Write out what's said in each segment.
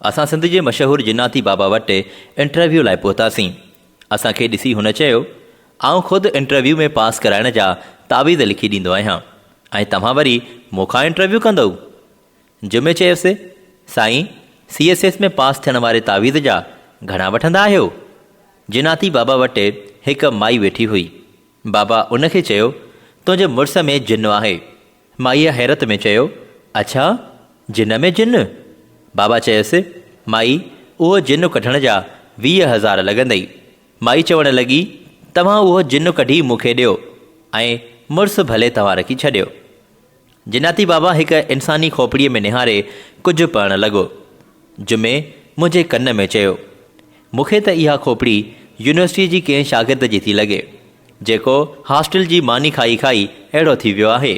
اسان سنڌ جي مشهور جناتي بابا وٽ انٽرويو لاء پهتاسين. اسان کي ڏسي هن چيو، آئون خود انٽرويو ۾ پاس ڪرائڻ جا تعويذ لکي ڏيندو آهيان ۽ توهان وري مون کان انٽرويو ڪندؤ؟ جمعي چيس، سائين سي ايس ايس ۾ پاس ٿيڻ واري تعويذ جا گهڻا وٺندا آهيو؟ جناتي بابا وٽ هڪ مائي ويٺي هئي. بابا ان کي چيو، تنهنجي مڙس ۾ جن آهي. مائيء حيرت ۾ چيو، اڇا! جن ۾ جن؟ بابا چيس، مائي اهو جن ڪڍڻ جا ويهه هزار لڳندئي. مائي چوڻ لڳي، توهان اهو جن ڪڍي مون کي ڏيو ۽ مڙس ڀلي توهان رکي ڇڏيو. جناتي بابا هڪ انساني کوپڙيء ۾ نهاري ڪجهه پڙهڻ لڳو. جمعي منهنجي ڪن ۾ چيو، مون کي ته اها کوپڙي يونيورسٽيء جي ڪنهن شاگرد جي ٿي لڳي. جيڪو هاسٽل جي ماني کائي کائي اهڙو ٿي ويو آهي.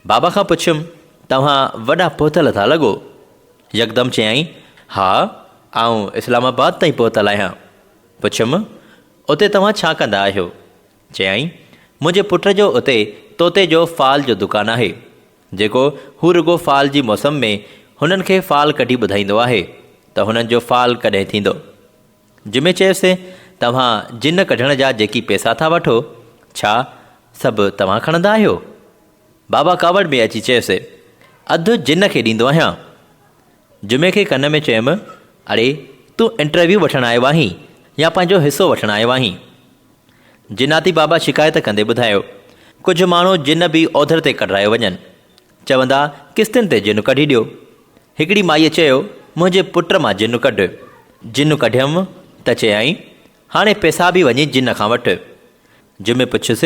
بابا کان پڇيم، توهان وڏا پهتل ٿا لڳو. يڪدم چيائين، ها، آئون اسلام آباد تائين پهتل آهيان. پڇيم، اتي توهان ڇا ڪندا آهيو؟ چيائين، منهنجي پٽ جو اتي طوطي جو فال جو دڪان آهي، جيڪو هو رڳو فال جي موسم ۾ هنن کي فال ڪڍي ٻڌائيندو آهي ته هنن جو فال ڪڏهن ٿيندو. جمعي چيس، توهان جن ڪڍڻ جا جيڪي پيسا ٿا وٺو، ڇا سڀ توهان کڻندا آهيو؟ بابا ڪاوڙ ۾ اچي چيس، اڌ جن کي ڏيندو آهيان. جمعي کي ڪن ۾ چيم، اڙي تون انٽرويو وٺڻ آيو آهين يا پنهنجو حصو وٺڻ آيو آهين؟ جناتي بابا شڪايت ڪندي ٻڌايو، ڪجهه ماڻهو جن به اوڌر تي ڪڍرايو وڃن. چوندا قسطين تي جنّ ڪڍي ڏيو. هڪڙي مائيء چيو، منهنجي پٽ مان جنّ ڪڍ. جنّ ڪڍيم ته چيائين، هاڻي پيسابي وڃي جنّ کان وٺ. جمعي پڇيس،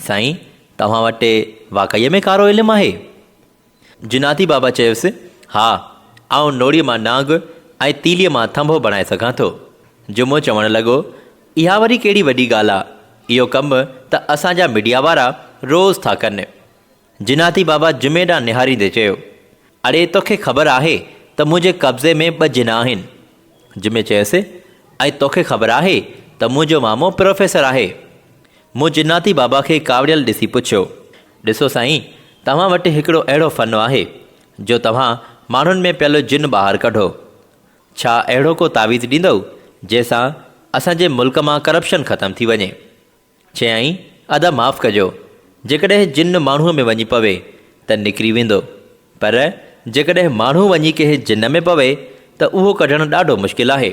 سائين، توهان وٽ واقعي ۾ ڪارو علم آهي؟ جناتي بابا چيس، ها، آئون نوڙيء مان نانگ ۽ تيليء مان ٿنڀو بڻائي سگهان ٿو. جمعو چوڻ لڳو، اها وري ڪهڙي وڏي ڳالهه آ، اهو ڪم ته اسان جا ميڊيا وارا روز ٿا ڪن. جناتي بابا جمعي ڏانهن نهاريندي چيو، اڙي توکي خبر آهي ته منهنجي قبضي ۾ ٻه جنا آهن؟ جمعي چيس، ۽ توکي خبر آهي ته منهنجو مامو پروفيسر آهي؟ مون جناتي بابا کي ڪاوڙيل ڏسي پڇيو، ڏسو سائين توهان وٽ هڪڙو اهڙو فن آهي جو توهان ماڻهن ۾ پيل جن ٻاهر ڪڍو. ڇا اهڙو ڪو تعويذ ڏيندؤ جنهن سان اسان جي ملڪ مان ڪرپشن ختم ٿي وڃي؟ چيائين، ادا معاف ڪجو، جيڪڏهن جن ماڻهوء ۾ وڃي پوي ته نڪري ويندو، پر جيڪڏهن ماڻهو وڃي ڪنهن جن ۾ پوي ته اهو ڪڍڻ ڏاڍو مشڪل آهي.